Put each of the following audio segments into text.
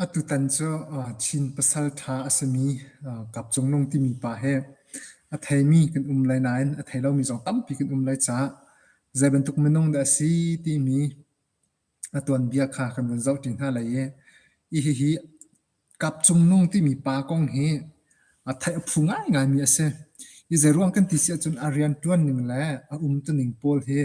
Atutan cu Chin pasal ṭha a simi Kap Cung Nung timi pa hi a theimi kan um lai nain a thei lomi zong tampi kan um lai caah zeibantuk minung dah a si timi a tuanbia kha kan vun zoh ṭi hna lai i i hihi Kap Cung Nung timi pa kong hi a theih a phu ngaingaimi a si. Hi zeiruang kan ti si ahcun a rian ṭuan ning le a umtuning pawl hi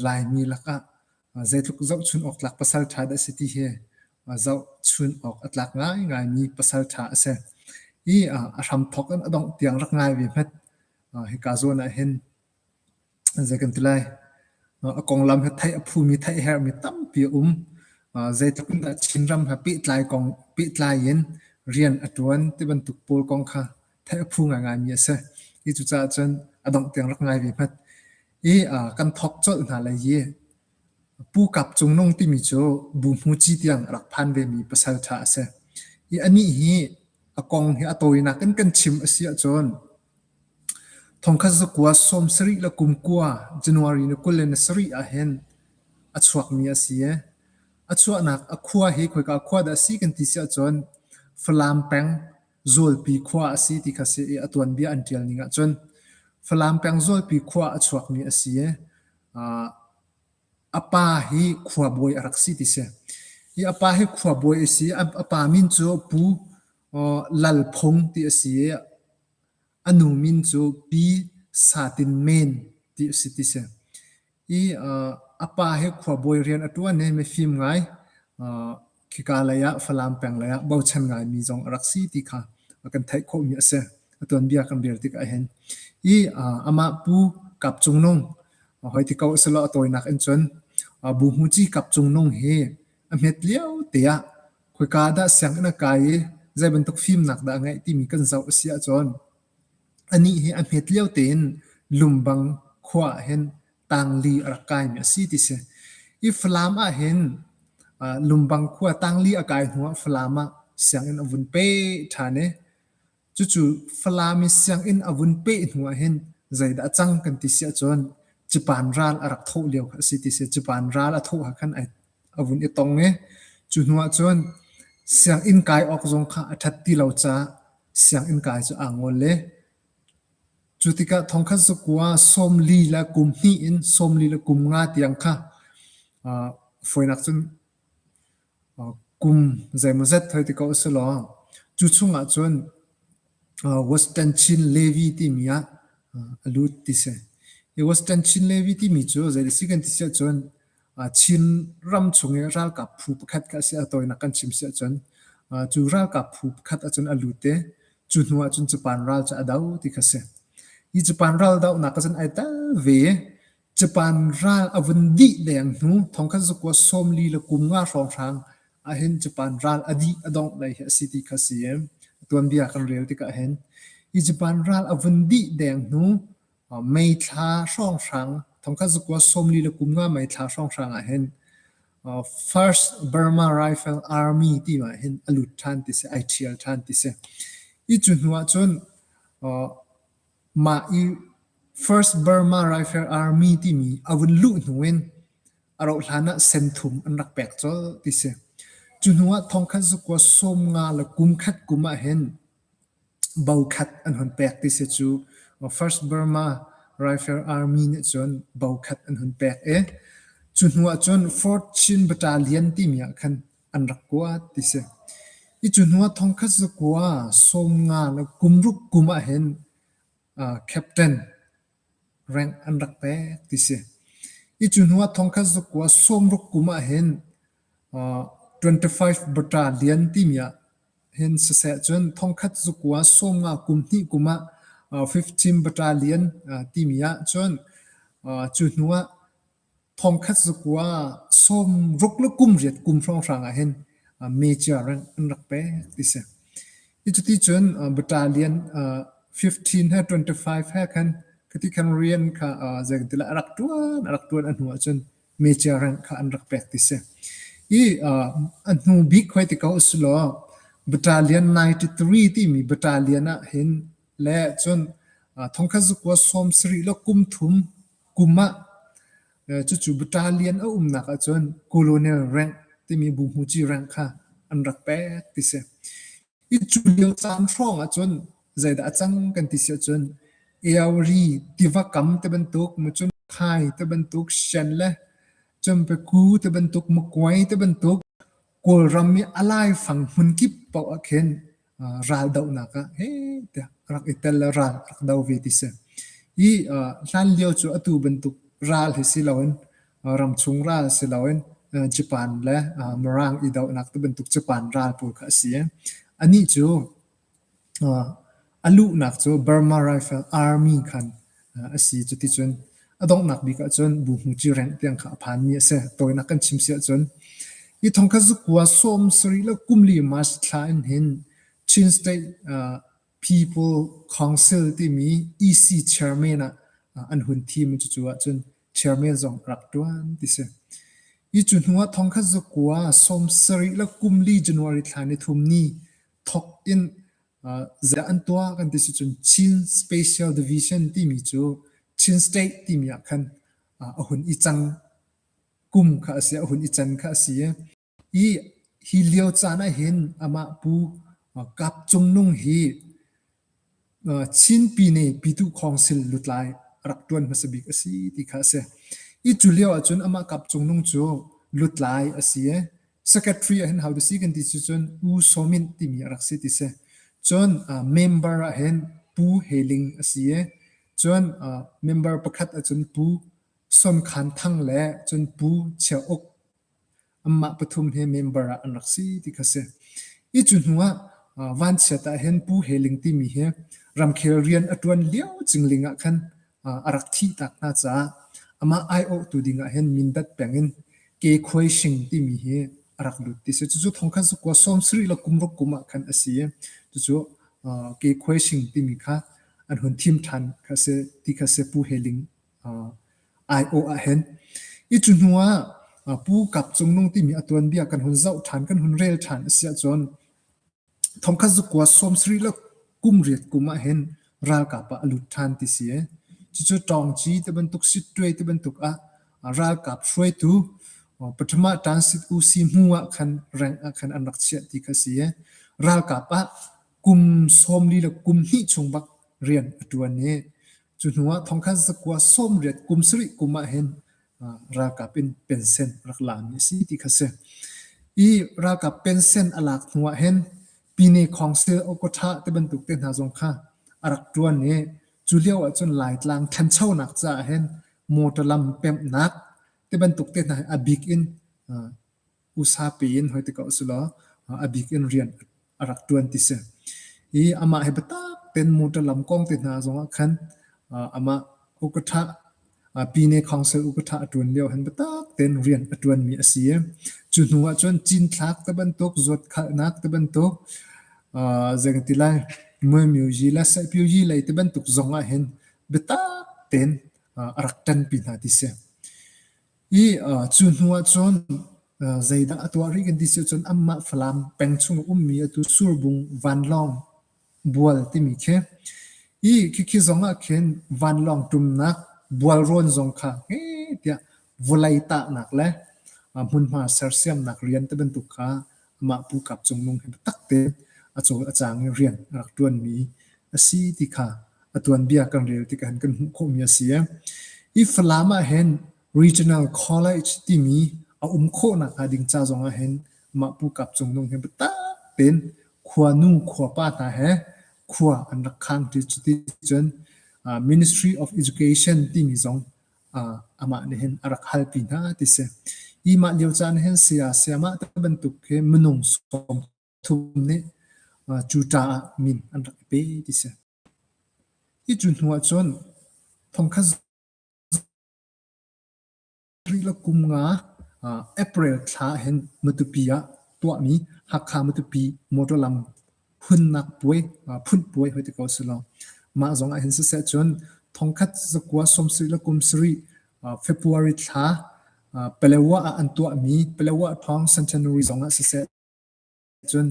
Laimi lakah zeitluk zohchun awk tlak pasal ṭha dah a si ti hi zohchun awk a tlak ngaingaimi pasal ṭha a si. I a hramthawk in a dongh tiang rak ngai ve hmet. Hika zawn ah hin Zei kan ti lai? A konglam hi theih a phumi theih a herhmi tampi a um. Zeitluk in dah Chinram he pehtlai kong pehtlai in rian a ṭuan ti bantuk pawl kong kha theih a phu ngaingaimi a si. Hi cucaah cun a dongh tiang rak ngai ve hmat. I kan thawk colh hna lai i Pu Kap Cung Nung timi cu Bu Hmu Ci tiang a rak phan vemi pasal ṭha a si. I anih hi a kong hi a tawinak in kan chim a si ahcun Thongkhat zakua sawm sarih le kum kua January ni kul le ni sarih ahhin a chuakmi a si i a chuahnak a khua hi khoika khua dah a si kan ti si ahcun Falam peng Zawlpi khua a si ti kha a si i a tuanbia an ṭial ning ahcun Falam peng Zawlpi khua a chuakmi a si i aa a pa hi khuabawi a rak si ti si. Hi a pa hi khuabawi a si i a pa min cu Pu Lal Phung ti a si i a nu min cu Pi Sa Tin Men ti a si ti si. I a pa hi khuabawi rian a ṭuan i mifim ngai, khika leiah Falam peng leiah bochan ngaimi zong a rak si ti kha kan theih khawhmi a si. A tuanbia kan rel tikah hin. I amah pu Kap Cung Nung, hoi ti ko a si law a tawinak in cun Bu Hmu Ci Kap Cung Nung hi a hmet lio te ah Khoika ah dah sianginn a kai i zei bantuk fimnak dah a ngeih timi kan zoh a si ahcun anih hi a hmet lio tein Lumbang khua ah hin tangli a rak kaimi a si ti si. I Falam ah hin uh, Lumbang khua tangli a kai hnuah Falam ah sianginn a vun pe ṭhan i Cucu Falam i sianginn a vun peh hnu ah hin zeidah a cang kan ti si ahcun cipan ral a rak thawh lio kha a si ti si. Cipan ral a thawh ha khan ai a vun i tong i cu hnu ah cun sianginn kai awk zong kha a ṭhat ti lo caah sianginn kai cu aa ngol le cu tikah thongkhat zakua sawm li le kum hnih in sawm li le kum nga tiang kha uh, fawinak cun Kum zeimawzet hoi ti ko a si law, cu chung ahcun Western Chin Levy timi ah a lut ti si. Hi Western Chin Levy timi cu zei a si kan ti si ahcun Chin ram chung i ralkap phu pakhat kha a si a tawinak kan chim si ahcun cu ralkap phu pakhat ahcun a lut i cu hnu ahcun Japan ral cu a do ti kha a si. Hi Japan ral dohnak ahcun ai tel ve i Japan ral a vun dih deng hnu thongkhat zakua sawm li le kum nga hrawnghrang ahhin Japan ral a dih a dongh lei hi a si ti kha si i tuanbia kan rel tikah hin hi Japan ral a vun dih deng hnu May thla hrawnghrang thongkhat zakua sawm li le kum nga May thla hrawnghrang ahhin first Burma Rifle Army ti ah hin a lut ṭhan ti si, ai ṭhial ṭhan ti si. Hi cu hnu ahcun Mah i First Burma Rifle Army timi a vun luh hnu in a rauh hlan ah sen thum an rak pek colh ti si. Cu hnu ah thongkhat zakua sawm nga le kum khat kum ah hin bo khat an hun pek ti si cu. First Burma Rifle Army nih cun bo khat an hun pek i cu hnu ah cun Fort Chin Battalion timi ah khan an rak kuat ti si. I cu hnu ah thongkhat cu kua sawmnga le kum ruk kum ah hin uh, captain rank an rak pek ti si. I cu hnu ah thongkhat cu kua sawmruk kum ah hin uh, 25 bata lian timi ah hin siseh cun thongkhat cu kua sawmnga kum hnih kum ah uh, 15 bata lian uh, timi ah cun uh, cu hnu ah Thongkhat zakua sawm ruk le kum riat kum hrawnghrang ah hin major rank an rak pek ti si. Cuti cun battalion fifteen he twenty-five he khan khati khan rian kha zeitintilah a rak ṭuan a rak ṭuan a hnu ahcun major rank kha an rak pek ti si. Hi a hnu bik hoi ti ko usilaw battalion ninety-three timi battalion ah hin le cun thongkhat zakua sawm sarih le kum thum Kum ah cucu bata lian a umnak ahcun colonial rank timi buhmuci rank kha an rak pek ti si. I cu lio caan hrawng ahcun zeidah a cang kan ti si ahcun Eory tiva kam te bantuk macun khai te bantuk Shen le cun Paku te bantuk Makuai te bantuk Kawlram i a laifang hmun kip paoh ah khin uh, raldohnak ah he tiah rak i tel le ral rak do ve ti si. I uh, hlan lio cu atu bantuk ral hi si loin uh, ramchung ral si loin uh, Japan le uh, Mirang i dohnak tu bantuk Japan ral pawl kha a si. Ani cu A luhnak cu Burma Rifle Army khan a si. Cuticun a donghnak bik ahcun Bu Hmu Ci Rengh tiang kha a phanmi a si. Tawinak kan chim si ahcun hi thong kha zakua sawm sarih le kum li March thla in hin Chin State People Council timi EC chairman ah an hun thim i cucu ahcun chairman zong rak ṭuan ti si. Hi cu hnuah thong kha zakua sawm sarih le kum li January thla nithum ni thawk in ziah an tuah kan ti si cun Chin Special Division timi cu Chin State timi ah khan a hun i cang kum kha a si a hun i can kha a si i hi lio caan ah hin amah pu Kap Cung Nung hi Chinpi nih pitu khawngsil lutlai a rak ṭuan hmasa bik a si ti kha a si. I cu lio ahcun amah kap cungnung cu lutlai a si i secretary ahhin how to si kan ti cun U Saw Myint timi a rak si ti si. Cun member ahhin Pu He Ling a si i cun member pakhat ahcun Pu Son Khan Thang le cun Pu Chia Uk anmah pathum he member ah an rak si ti kha si. I cu hnu ah vanchiat ah hin Pu He Ling timi hi ramkhel rian a ṭuan lio cingling ah khan a rak thih tak hna caah amah aiawhtu ding ah hin Mindat peng in Ke Khuai Shing timi hi a rak lut ti si. Cucu thongkhat cu kua sawmsarih le kum ruk kum ah khan a si i cucu Ke Khuai Shing timi kha an hun thim ṭhan kha si ti kha si Pu He Ling aiawh ahhin. I cu hnu ah Pu Kap Cung Nung timi a tuanbia kan hun zoh ṭhan, kan hun rel ṭhan a si ahcun thongkhat zukua sawmsarih le kum riat kum ahhin ralkap ah a lut ṭhan ti si ee. Cucu Ṭawngci ti bantuk, Sittuai ti bantuk ah ralkap hruaitu Paṭhama Ṭansit Usi hnu ah khan rank ah khan an rak chiah ti kha si ee. Ralkap ah kum sawmli le kum hnih chung bak rian a ṭuan i Cu hnu ah thongkhan sakua sawmriat kum sarih kum ah hin ralkap in pensen rak laami a si ti kha si. I ralkap pensen a lak hnu ah hin Pine Khawngsel Okawtha te bantuk te hna zong kha a rak ṭuan i cu lio ah cun Laitlang ṭhanchonak caah hin motor lam pemhnak te bantuk te hna hi a bik in usa piin hoi tikah usula a bik in rian a rak ṭuan ti si. I amah he biatak ten motor lam kong te hna zongah khan amah ukatha pine council ukatha a ṭuan lio han biatak ten rian a ṭuan mi a si i cu hnu ah cun cinthlak te bantuk zuat khalhnak te bantuk zeng ti lai mui miu yi le sai piu yi lei te bantuk zong ah hin biatak ten a rak ṭan pi hna ti si. I uh, cu hnu ah cun uh, zeidah a tuah rih kan ti si cun amah Falam peng chung ummi atu Surbung Vanlawng bual timi khi i khikhi zong ah khin vanlawng tumnak bual rawn zong kha he tiah vulei tahnak le a hmunhma sersiamnak rian te bantuk kha Mah pukap cungnung hi biatakte a cawl a cang i rian a rak ṭuanmi a si ti kha a tuanbia kan rel tikah kan hmuh khawhmi a si. Hi Falam ahhin Regional College timi a um khawhnak hnga ding ca zong ahhin mah pukap cungnung hi biatak tein khuanu khuapa hna he khua an rak khang ṭi. Cuticun Ministry of Education timi zong amah nih hin a rak halpi hna ti si. Hi mah lio caan hin saya sayamah te bantuk hi minung sawmthum nih cu ca ah min an rak i pe ti si. Hi cu hnu ah cun thongkhat rih la kum nga April thla hin matupi ah tuahmi Hakha matupi motor lam phunnak puai, phun puai hoi te ko si lo. Mah zong ah hin siseh cun thongkhat zakua sawmsarih le kumsarih February thla Palewa ah an tuahmi Palewa thawng St. January zong ah siseh cun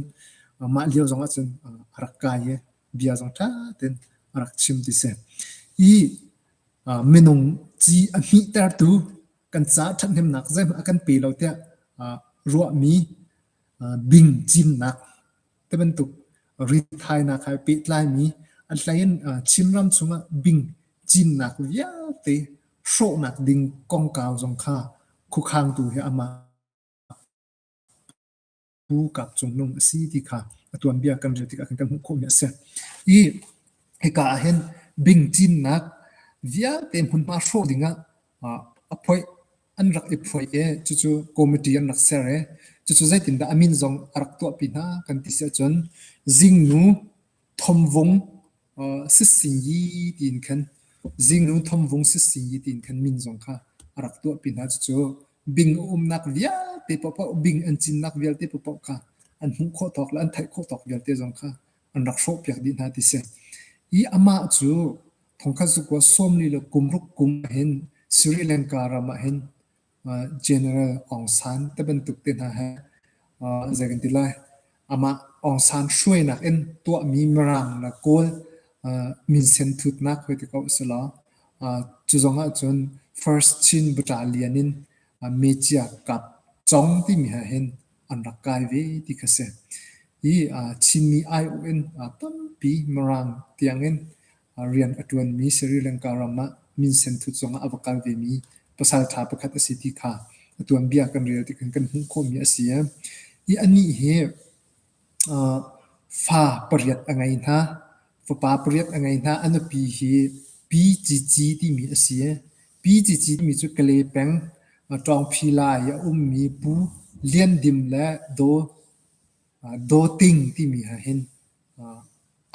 mah lio zong ah cun a rak kai i bia zong ṭha tein a rak chim ti si. I minung ci a hmihtertu kan ca ṭhathnemnak zeihmanh a kan pe lo tiah ruahmi bing cimnak tibantuk ritthainak he pehtlaimi a hleiin Chinram chungah bing cinnak vialte hrawhnak ding kongkau zong kha khukhangtu he amah pu kap cungnung a si ti kha a tuanbia kan rel tikah kan kan hmuh khawhmi a si. I hika ahhin bing cinnak vialte hmunhma hrawh dingah a phoih an rak i phuai i cucu committee an rak ser i cucu zeitindah a min zong a rak tuahpi hna kan ti si ahcun zingnu thomvung sissingi tiin khan zingnu thomvung sissingi tiin khan min zong kha a rak tuahpi hna cucu bing a umnak vialte paohpaoh bing an cinnak vialte paohpaoh kha an hmuh khawh tawk le an theih khawh tawk vialte zong kha an rak hrawhpiak dih hna ti si. I amah cu thongkhat zukua sawmli le kumruk kum hin Sri Lanka ram ah hin uh, General Aung San te bantuk te hna he uh, zei kan ti lai amah Aung San hruainak in tuahmi mirang la kawl uh, minsen thutnak hoi te ko sila uh, cu zong ah cun first Chin buta lian in uh, Mecia kap chong timi ha hin an rak kai ve ti kha si. Hi Chinmi aiawh in tampi Mirang tiangin rian a ṭuanmi Sri Lanka ram ah minsen thut zongah a va kal vemi pasalṭha pakhat a si ti kha a tuanbia kan rel tikhin kan hmuh khawhmi a si. Hi anih hi fa pariat a ngei hna, fapa pariat a ngei hna. A nupi hi P. Ci Ci timi a si. Pi Cici timi cu Kale peng Ṭawngphi lai i a ummi Pu Lian Dim le Daw Ting timi he hin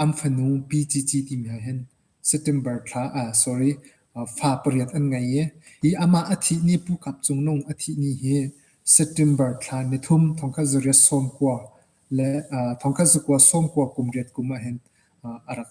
an fanu Pi Cici timi he hin September thla sorry fa pariat an ngei i hi amah a thih ni Pu Kap Cung Nung a thih ni hi September thla nithum thongkhat zariat sawmkua le thongkhat zakua sawmkua kum riat kum ah hin a rak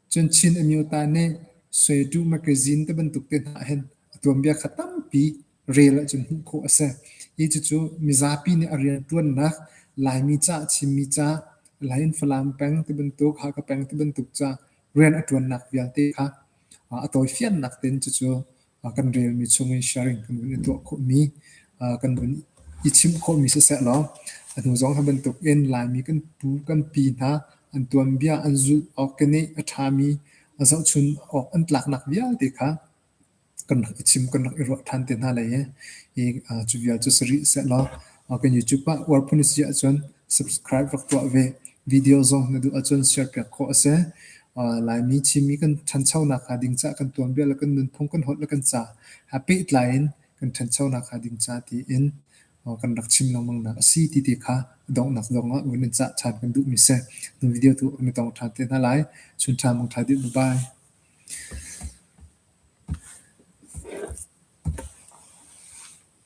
Cun Chin Amyota nih Suetu Magazine te bantuk te hna hin a tuanbia kha tampi rel ahcun hmuh khawh a si. Hi cucu mizapi nih a rianṭuannak, Laimi ca a chimmi ca, Lai in Falam peng ti bantuk, Hakha peng ti bantuk ca rian a ṭuannak vialte kha a tawifiannak tein cucu kan relmi chung in sharing kan vun i tuah khawhmi, kan vun i chim khawhmi siseh law atu zong hi bantuk in Laimi kan pu kan pi hna an tuanbia an zulh awk keneh a ṭhami a zohchun awk an tlaknak vialte kha kan rak i chim, kan rak i ruah ṭhan te hna lai i cu vial cu si rih seh law kan YouTube ah uar phun a si ahcun subscribe rak tuah ve. Video zong na duh ahcun serpiak khawh a si. Laimi Chinmi kan ṭhanchonak hnga ding caah kan tuanbia le kan nunphung kan holh le kan ca ha pehtlai in kan ṭhanchonak hnga ding ca tiin kan rak chim lengmangnak a si ti ti kha donghnak zongah ui nan cah ṭhan kan duhmi si. Nu video tu na tong ṭhan te hna lai. Chun ṭha mong ṭha dih. Bye-bye.